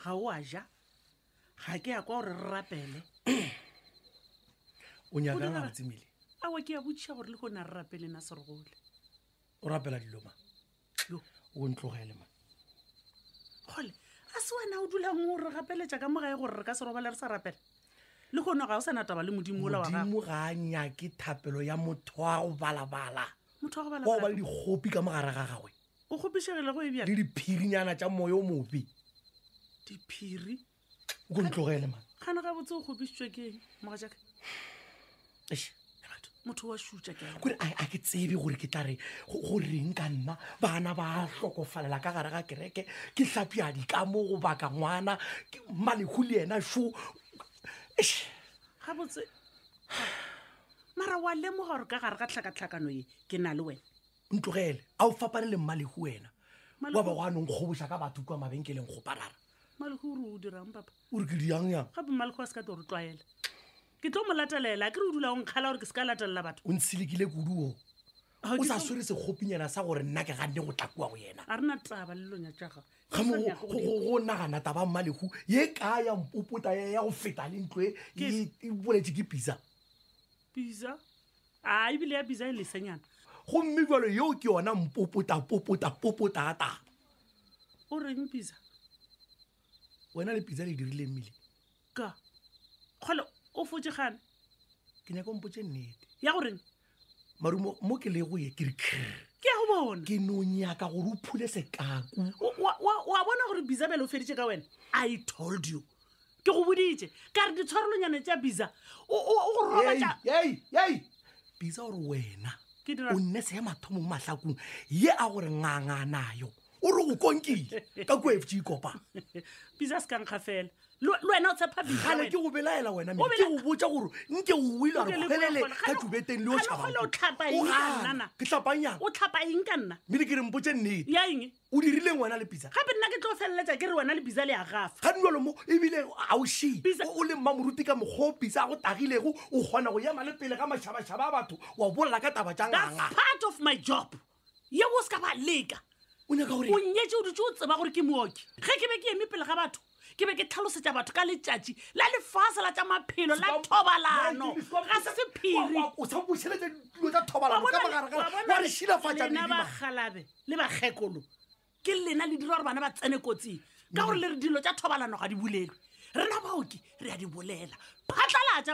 ga o a ja ga ke ya kwa gore re rapele o nyakang ga botsemile awa ke ya botšiša gore le gone a re rapele na serogole o rapela dilo ma o ntlogele ma gole a se wena o dulang o re gapeletša ka mogae gore re ka se robale re sa rapela le gone ga o sa nataba le modimo ola wa gago ga a nyake thapelo ya motho wa go balabala motho wa go balabala ba le dikgopi ka mogare ga gagwe o kgopišegile go e bjale diphirinyana tša moya o mobe diphiri o ko ntlogele man gana ga botse o kgopišitswe ke moga jaka motho wa šutša ke kore a ke tsebe gore ke tla re go reng ka nna bana ba hlokofalela ka gare ga kereke ke hlapiadi ka mo go baka ngwana malego le yena šo ga botse mara wa lemoga gore ka gare ga tlhakatlhakano ye ke na le wena ntlogele a o fapane le mmalego wena wa ba go a nong kgoboša ka batho kua mabenkeleng go parara mmalego o re o dirang papa o re ke dirang yang gape mmalego a se ka tlo re tlwaela ke tlo mo latelela ke re o dula o nkgala gore ke se ka latelela batho o ntshilikile kudu o o sa swere sekgopinyana sa gore nna ke ganne go tla kua go yena a rena taba le lonya tšaga go nagana taba mmalego ye ka ya mpopota ya go feta le ntlo e boletse ke pisa Biza. A e bile ya biza e lesenyana. Gomme jalo yeo ke yona mpopota, popota, popota ga taba. O reng biza? Wena le biza le dirile mmile. Ka. Kgole o fotše gane. Ke nyaka o mpotše nnete. Ya go reng? Marumo mo ke le go ye ke re krr. Ke ya go bona. Ke no nyaka gore o phule sekaku. Wa bona gore biza bjale o feditše ka wena? I told you. ke go boditše ka re ditshwarolonyane tša bisa o o- o go robatša yei yei bisa gore wena Ke dira- o nne se mathomong mahlakong ye a gore nganga nayo o re go konkile ka kuefte ikopa bisa se kankga fela le le wena o tshepa bisa gale wena. ke go belaela wena O mele ke bela- go botša gore nke o wile a Nke re le kgwelele kgole- ka kgale- tubeteng le o kgale- kgale o tlhapa eng ka nna na? ke tlhapanyang o tlhapa eng ka nna mele ke re mpotse nnete ya eng O dirileng wena le Pitsa? Gape nna ke tlo feleletša ke re wena le Pitsa le a gafa. Ga nolo mo, e bile ga o še. Pitsa. O, o le mmamoruti ka mokgwa o Pitsa a go tagilego, o kgona go ema le pele ga mašabašaba a batho wa bolela ka taba tša That's nganga. part of my job. Yeo o se ka ba leka. O nyaka go O reng? nnyetše o dutše o tseba gore ke mooki. Ge ke be ke eme pele ga batho, ke be ke tlhalosetša batho ka letšatši la lefase la tša maphelo la thobalano ga se sephiri o sa bušeletša ditulo tša thobalano ka magaragara wa re šilafatša lena medima bagalabe le bakgekolo ke lena le dira gore bana ba tsene kotsing ka gore le re dilo tša thobalano ga di bolelwe rena baoki re a di bolela phatlalatša